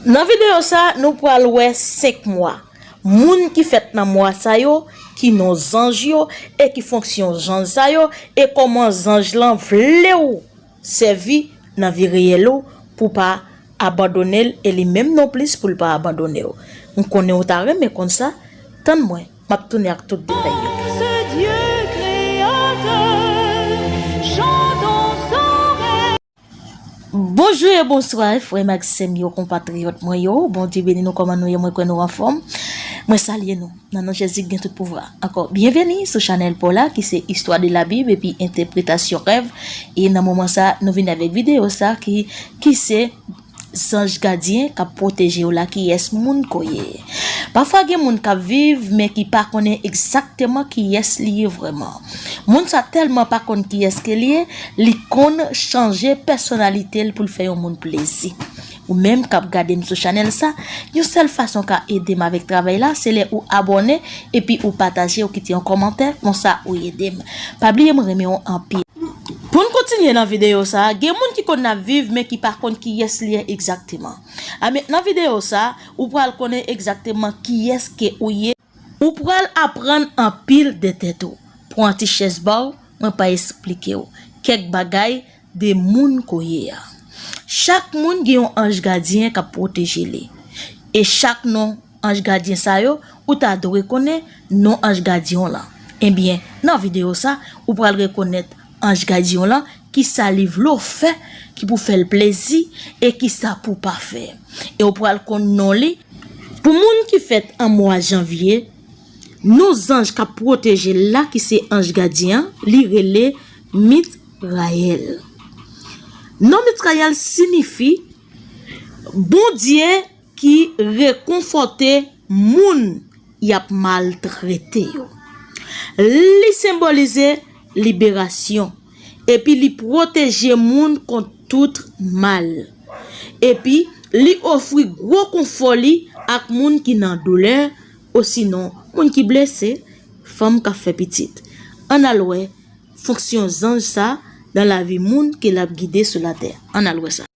Nan videyo sa nou pral wè 5 mwa, moun ki fèt nan mwa sa yo, ki non zanj yo e ki fonksyon zanj sa yo e kòman zanj lan vlew sèvi nan vi reyèl ou pou pa abandonel e li menm non plis poul pa abandonew. M konnen ou ta renmen konn sa, tann mwen map tounen ak tout detay yo. Bonjou e bonswa frè m ak sè m yo konpatriyòt mwen yo Bondye beni nou kòman nou ye mwen kwè nou anfòm mwen salye nou nan non Jezi ki gen tout pouvwa ankò byenveni sou chanèl paw la ki se istwa de la bib epi entèpretasyon rèv e nan moman sa nou vini avèk videyo sa ki ki se Zanj gadyen kap pwotejew la kiyès moun ko ye pafwa gen moun kap viv men ki pa konnen egzakteman kiyès li ye vrèman moun sa tèlman pa konn kiyès ke li ye li konn chanje pèsonalitel poul fè yon moun plezi ou menm kap gadem sou chanèl sa yon sèl fason ka edem avèk travay la se lè ou abòne epi ou pataje ou kite yon kòmantè konsa ou edem pa bliye mwen renmenw anpil. Pou n kontinye nan videyo sa, gen moun ki konn ap viv men ki pa konn kiyès li ye egzakteman. Anben nan videyo sa, ou pral konnen egzakteman kiyès ke ou ye. Ou pral aprann anpil de tèt ou. Pran ti chèz ba w, mwen pa esplike w kèk bagay de moun ke w ye a. Chak moun gen yon anj gadyen k ap pwoteje li e chak nou. Anj gadyen sa yo ou ta dwe konnen non anj gadyen w lan ebyen nan video sa ou pral rekonèt anj gadyen w lan kisa li vle w fè ki pou fèl plezi e kisa pou pa fè e ou pral konn non li Pou moun ki fèt an mwa janvye non zanj kap pwoteje l la ki se anj gadyen an li rele Mitrayèl non Mitrayèl sinifi Bondye ki rekonfòte moun y ap maltrete yo. Li senbolize liberasyon epi li pwoteje moun kont tout mal. Epi, li ofri gwo konfò li ak moun ki nan doulè osinon moun ki blese, fanm k ap fè pitit. Ann al wè fonksyon zanj sa nan lavi moun ke l ap gide sou latè. Ann al wè sa.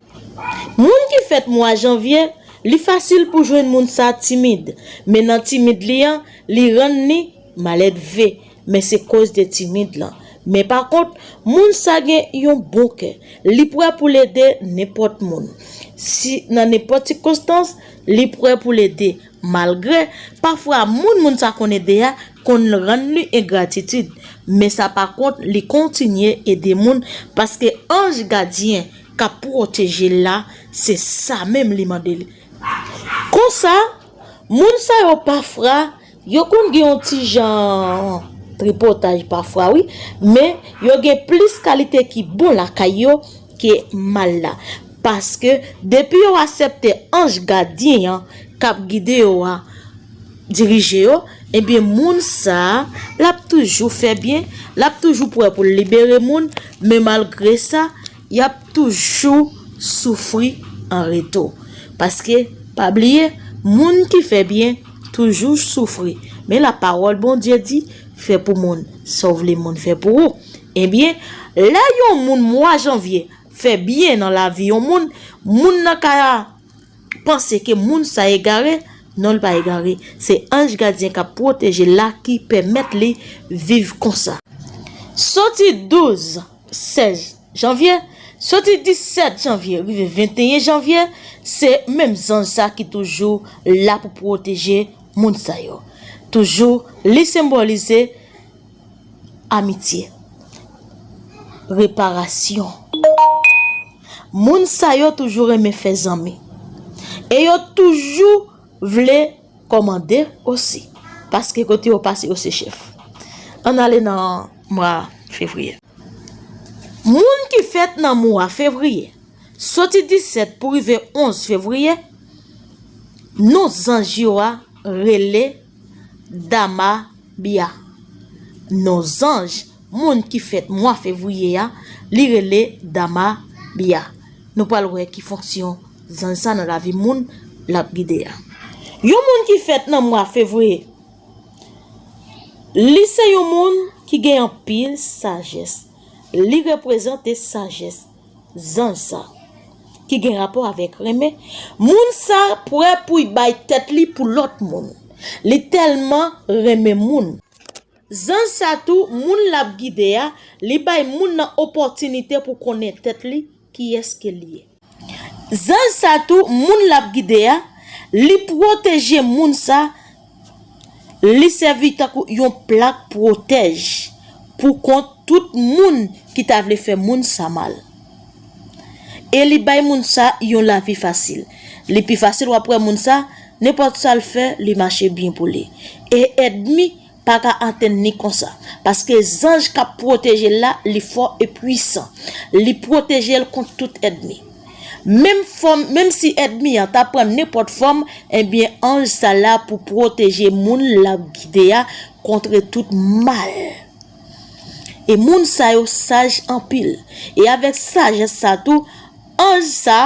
Moun ki fèt mwa janvye, li fasil pou jwenn moun sa timid, men nan timid li an, li rann li maledve, men se koz de timid lan. Men pa kont, moun sa gen yon bon kè, li prè pou l ede nenpòt moun. Si nan nenpòt sikonstans, li prè pou l ede, malgre, pafwa moun moun sa konn ede a konn rann li engratitid, men sa pa kont li kontinye ede moun paske anj gadyen kap pwoteje l la se sa menm li mande l konsa moun sa yo pafra yo konn gen yon ti jan tripotaj pafra wi men yo gen plis kalite ki bon lakay yo ke mal la paske depi yo asèpte anj gadyen an kap gide yo a. dirije yo ebyen moun sa lap toujou fè byen lap toujou pwè poul libere moun men malgre sa yap toujou soufri an retou paske pa bliye moun ki fè byen toujou soufri men la pawòl Bondye di fè pou moun sa w vle moun fè pou ou ebyen lè yon moun mwa janvye fè byen nan lavi yon moun moun nan ka panse ke moun sa egare, non li pa egare, se anj gadyen kap pwoteje l la ki pèmèt li viv konsa. Soti 12, 16 janvye, soti 17 janvye rive 21 janvye, se menm zanj sa ki toujou la pou pwoteje moun sa yo. Toujou li senbolize. Amitye. Reparasyon. Moun sa yo toujou renmen fè zanmi. E yo toujou vle kòmande osi. Paske kote yo pase yo se chèf. Ann ale nan mwa fevriye. Moun ki fèt nan mwa fevriye. Soti 17 pou rive 11 fevriye. Non zanj yo a rele dama. Bia. Non zanj moun ki fèt mwa fevriye a, li rele Dama Bia. Nou pral wè ki fonksyon zanj sa nan lavi moun l ap gide a. Yon moun ki fèt nan mwa fevriye, li se yon moun ki gen anpil sajès. Li reprezante sajès. Zanj sa. Ki gen rapò avèk renmen. Moun sa prè pou'y bay tèt li pou lòt moun. Li tèlman renmen moun. Zanj sa tou moun lap gide a, li bay moun nan opòtinite pou konnen tèt li, kiyès ke li ye. Zanj sa tou moun lap gide a, li pwoteje moun sa, Li sèvi tankou yon plak pwotèj pou kont tout moun ki ta vle fè moun sa mal. E li bay moun sa yon lavi fasil. Li pi fasil wap wè moun sa, nenpòt sa l fè li mache byen pou li. E èdmi pa ka atenn li konsa. Paske zanj kap pwoteje l la li fò e pwisan. Li pwoteje l kont tout èdmi. Menm fòm, menm si èdmi an ta pran nenpòt fòm, enbyen anj sa la pou pwoteje moun l ap gide a kontre tout mal. E moun sa yo saj anpil. E avèk sajès sa tou, anj sa,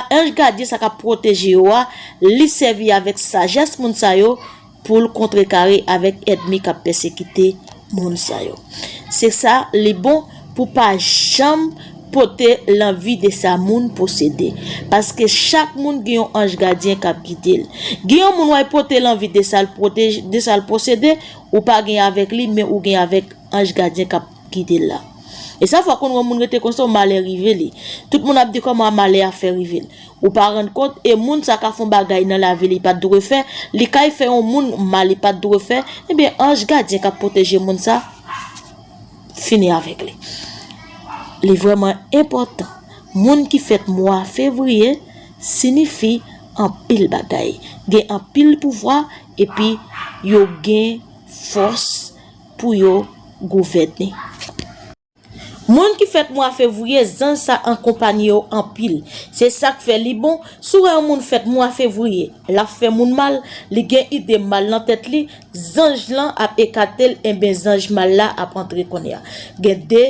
anj gadyen sa k ap pwoteje yo a, li sèvi avèk sajès moun sa yo, Pou l kontrekare avèk èdmi k ap pèsekite moun sa yo. Se sa li bon pou pa janm pote lanvi de sa moun posede. Paske chak moun gen yon anj gadyen k ap gide l. Gen yon moun w al pote lanvi de sa l posede, ou pa gen avèk li men ou gen avèk anj gadyen k ap. Kite l la. E sa fè konn yon moun rete konsa yon malè rive li. Tout moun ap di kòman malè a fè rive l. Ou pa rann kont e moun sa ka fè yon bagay nan lavi li pat dwe fè, li kay fè yon moun mal li pat dwe fè, ebyen anj gadyen kap pwoteje moun sa fini avèk li. Li vrèman enpòtan. Moun ki fèt mwa fevriye sinifi anpil bagay. Gen anpil pouvwa epi yo gen fòs. pou yo gouvène. Moun ki fèt mwa fevriye zanj sa ankonpanye yo anpil se sak fè li bon si w wè yon moun fèt mwa fevriye lap fè moun mal li gen ide mal nan tèt li zanj lan ap ekate l enben zanj mal la ap antre kounye a gen 2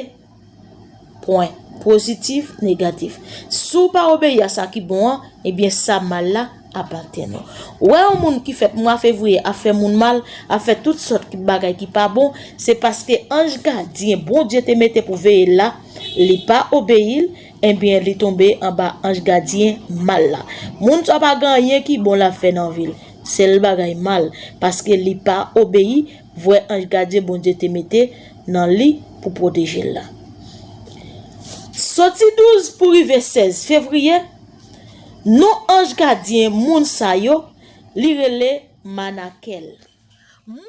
Pwen, pozitif, negatif. Si w pa obeyi a sa ki bon an, ebyen sa mal la ap atenn ou. Ou wè yon moun ki fèt mwa fevriye ap fè moun mal, ap fè tout sòt bagay ki pa bon, se paske anj gadyen Bondye te mete pou veye l la, li pa obeyi l, ebyen li tonbe anba anj gadyen mal la. Moun sa pa gen anyen ki bon l ap fè nan vi l. Sèl bagay mal, paske li pa obeyi Vrè anj gadyen Bondye te mete nan li pou pwoteje l la. Soti 12 pou rive 16 fevriye, non anj gadyen moun sa yo, li rele Manakèl. Moun.